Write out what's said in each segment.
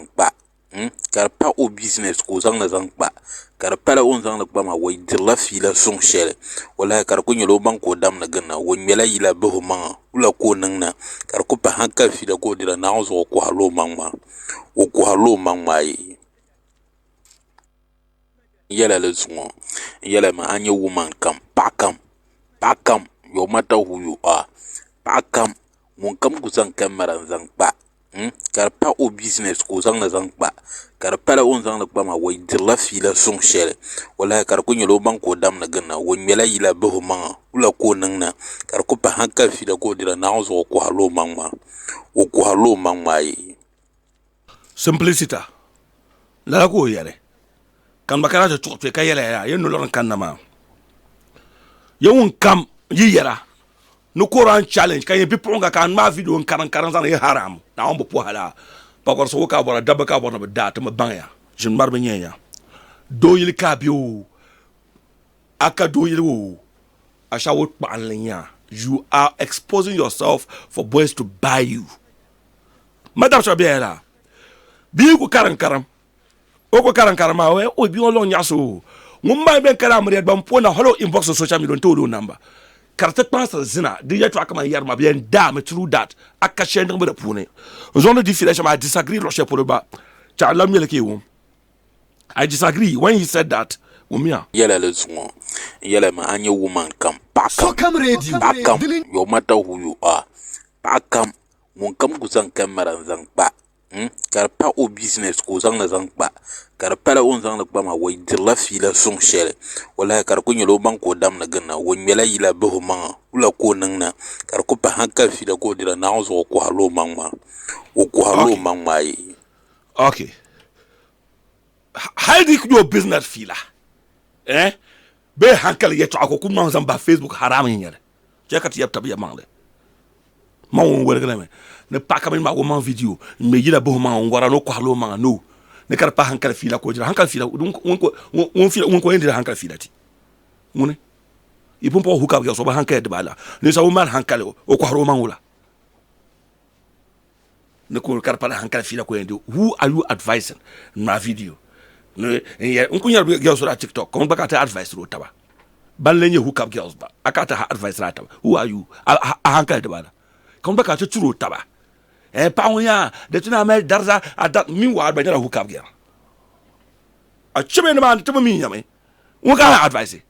zaŋ kpa ka di pa o bizinɛs ka o zaŋli zaŋ kpa ka di pala o ni zaŋli kpa maa o dirila fiila suŋ shɛli wallaahi ka di ku nyɛla o maŋ ka o damni ginda o ŋmɛla yila bahi o maŋa wula ka o niŋ na ka di ku pahi hankali fiila ka o dirila naawuni zuɣu o koharila o maŋ maa o koharila o maŋ maa yɛla di zuŋɔ n yɛli maa a ni nyɛ wuman kam paɣa kam paɣa kam yowur mata hu yu ar paɣa kam ŋun kam ku zaŋ kamɛra n zaŋ kpa ka di pa o bizinɛs ka o zaŋli zaŋ kpa ka di pala o ni zaŋli kpa maa o dirila fiila suŋ shɛli wallaahi ka di ku nyɛla o maŋ ka o damni ginda o ŋmɛla yila bahi o maŋa wula ka o niŋda ka di ku pahi hankali fiila ka o dirila naawuni zuɣu o koharila o maŋ maa o koharila o maŋ maa ayi Simpliciter, lala ka o yɛli, ka ŋun ba kana ti tuɣi kpe ka yɛliya yaa, yi nolɔri n-kanna maa, ya ŋunkam yi yɛra ni Koran challenge ka yi nyɛ bipuɣiŋga ka a ŋmaai vidiyo n-kariŋkariŋ zaŋ yi haram, Naawuni bi pɔhi lala, pakɔrisi ŋɔ ka a bɔra, dabba ka a bɔri ni bɛ daa ti mi baŋya, ʒini ŋmari bi nyɛn ya, doo yili ka a be oo, a ka doo yili oo, ashawo kpaɣinli n-nya, you are exposing yourself for boys to buy you. ma dab sɔ bɛya la bia ku karim karim o ku karim karim maa wɛ o bia ŋɔ lɔŋ nyaɣisi o ŋun maa bɛn kala amiriya gba n po na hali o inbox o social media n tooli o namba ka di ti kpaŋsiri zina di yɛtɔɣa kamani yɛri ma bɛn daa mi through that a ka shɛli niŋbu di puuni n zɔŋ di di fiila shɛm I disagree luɣi shɛli polo gba ka a lahi ŋmɛli ka i wum I disagree when he said that wummiya. Yɛla li zuŋɔ n yɛla mi a nyɛ woman kam paɣa kam paɣa kam yo mata who you are paɣa kam ŋun kam ku zaŋ kamɛra n zaŋ kpa ka di pa o bizinɛs ka o zaŋli zaŋ kpa ka di pala o ni zaŋli kpa maa o dirila fiila suŋ shɛli wolahi ka di ku nyɛla o maŋ ka o damni ginda o ŋmɛla yila bahi o maŋa wula ka o niŋ na ka di ku pahi hankali fiila ka o dira naawuni zuɣu o koharila o maŋ maa o koharila o maŋ maa ayi Chɛ ka ti yab tab yɛlimaŋli. Maŋ ŋun woligi na mi ni paɣa ka mini maa ka o maŋ vidiyo n-ŋme yila buhi maŋa n-wara ni o kɔhiri o maŋa no ni ka di paai hankali fiila ka o dira hankali fiila ŋun ka o yɛn diri hankali fiila ti ŋuni yi pun paɣi o hook up girls o bi hankaya dibaala ninsabu ŋun mali hankali o kɔhiri o maŋ wula ni kul ka di pala hankali fiila ko yɛn di who are you advising ŋmaa video n ku nyɛri girls daa tiktok kom gba ka ti advice ro taba ban le nyɛ hookup girls ba a ka ti ha advice raa taba who are you a hankali dibala kom gba ka ti turo taba eh paɣa ŋo yaa di ti naa mali dariza a da min waɣa gba nyɛla hookup girl a chɛbɛ ni maa ti bi mi nyɛmi ŋun ka ha advice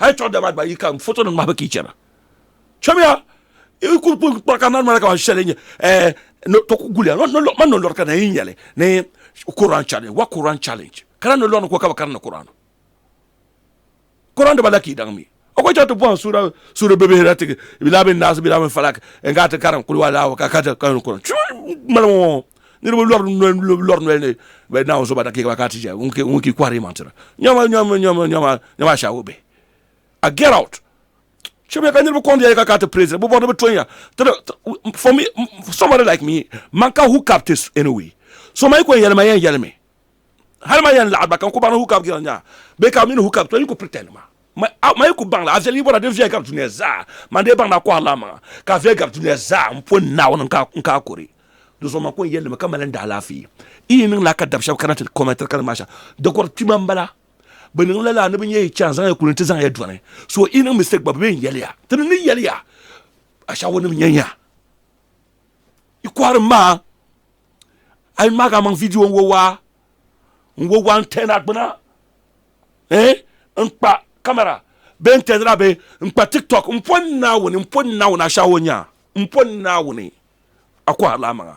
hali chuɣu dama gba yi ka foto nim ŋmahibu ka yi chɛna chɔmiya i ku kpa ka nari mali ka shɛli nyɛ eh, to ku guliya man no lɔri ka na yi nyɛli ni Quran challenge wa Quran challenge kana no lɔri ko ka bi karinda Quran Quran daba la ka yi daŋ mi o ko chɛŋ ti bɔhim suura suura bɛ bihira ti bila bin naasi bila bin falak n ka ti karim kuli wa laawa ka ka ti karim Quran chɔmiya malimo niriba lɔri lɔri noli ni bɛ naawuni so ba dakiika ba ka ti ʒiya ŋun ki kɔhiri yimaŋtira nyama nyama nyama nyama nyama ashaawo bihi a get out shɛbiya ka niriba kɔŋ diya ka ka ti praise bɛ bɔri ni bɛ tonya for me somebody like me man ka hook up this anyway so ma yi ko yɛlima yɛn yɛlimi hali ma yɛn laɣiri ba ka n ku baŋ ni Hukab jiran nya bɛ ka bɛ mi ni Hukab tɔn yi ku pretend ma ma yi ku baŋla a viɛli yi bɔra din viɛli gari dunia zaa man dee baŋ ni a kɔhiri la amaŋa ka a viɛli gari dunia zaa n pɔi Naawuni n ka a kuri di zuɣu man ku n yɛli mi ka mali n daalaafee yi yi niŋla ka dab shɛba kana ti kɔmɛntiri ka niŋ maa shɛm di kɔri kpima n bala bɛ niŋ la lala ni bɛ nya yi chaŋ zaŋ ya kuli n ti zaŋ ya dɔni so yi niŋ mistake gba bɛ mi n yɛli ya ti ni ni yɛli ya Ashaawunim nya nya yi kɔhiri maa a yi maaka maŋ vidiyo n-wo waa n-wo waa n-tɛhina gbuna eh n-kpa kamara bee n-tɛhidila bee n-kpa tiktok m-po Naawuni m-po Naawuni a shɛhi o nyaa m-po Naawuni a kɔhirila a maŋa